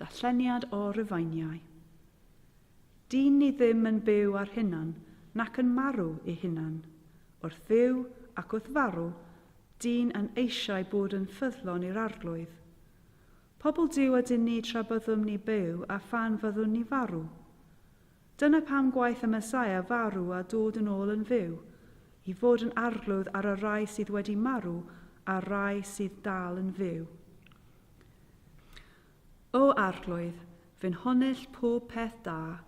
Darlleniad o Rufeiniau. Dyn ni ddim yn byw ar hunan nac yn marw i hunan. Wrth fyw ac wrth farw, dyn yn eisiau bod yn ffyddlon i'r Arglwydd. Pobl Duw ydyn ni tra byddwn ni byw a phan fyddwn ni farw. Dyna pam gwaeth y Mesaia farw a dod yn ôl yn fyw, i fod yn arglwydd ar y rhai sydd wedi marw a'r rhai sydd dal yn fyw. O Arglwydd, fy nhonell pob peth da,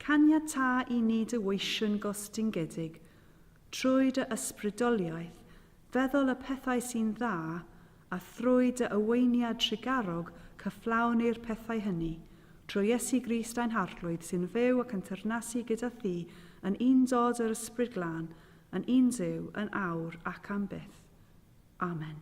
caniata i ni dy weision gostyngedig, trwy dy ysbrydoliaeth, feddwl y pethau sy'n dda A thrwy dy oweiniad trugarog cyflawnir pethau hynny, trwy Iesu Grist ein Harglwydd sy'n fyw ac yn teyrnasu gyda thi yn undod yr Ysbryd Glân, yn un Duw, yn awr ac am byth. Amen.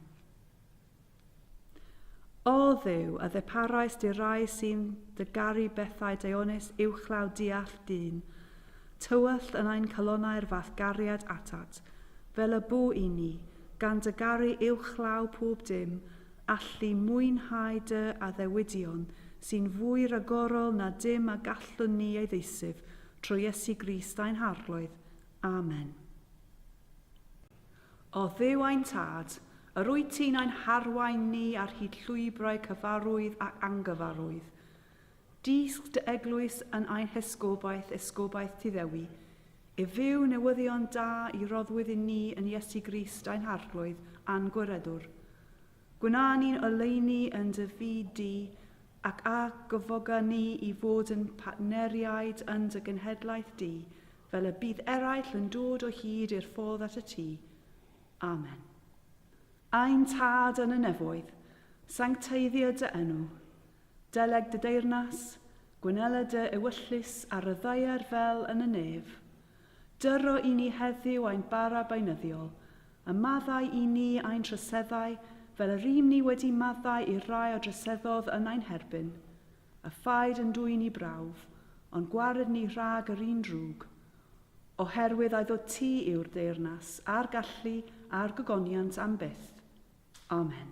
O Dduw, a ddeparais di rai sy'n dy garu bethau deonus uwchlaw diall dyn, tywyllt yn ein calonau'r fath gariad atat, fel y bu i ni, Gan dy garu uwchlaw pob dim, allu mwynhau dy addewidion sy'n fwy ragorol na dim a gallwn ni ei ddeisyf, trwy Iesu Grist ein Harglwydd. Amen. O Dduw ein Tad, yr wyt ti'n ein harwain ni ar hyd llwybrau cyfarwydd ac angyfarwydd, Dysg dy eglwys yn ein hesgobaeth, esgobaeth Tŷ Ddewi, i fyw newyddion da i roddwyd i ni yn Iesu Grist ein Harglwydd a'n Gwiredwr. Gwna ni'n oleuni yn dy fyd di, ac a gyfoga ni i fod yn partneriaid yn dy genhedlaeth di, fel y bydd eraill yn dod o hyd i'r ffordd at y tŷ. Amen. Ein Tad yn y nefoedd, sancteiddio dy enw. Deleg dy deyrnas, gwynela dy ewyllys a ryddhauer fel yn y nef. Dyro i ni heddyw ein bara beunyddiol, a maddau i ni ein troseddau fel y rym ni wedi maddau i'r rhai a droseddodd yn ein herbyn. A phaid yn dwyn i brawf, ond gwared ni rhag yr un drwg. Oherwydd ai ddo ti yw'r deyrnas, a'r gallu, a'r gogoniant am byth. Amen.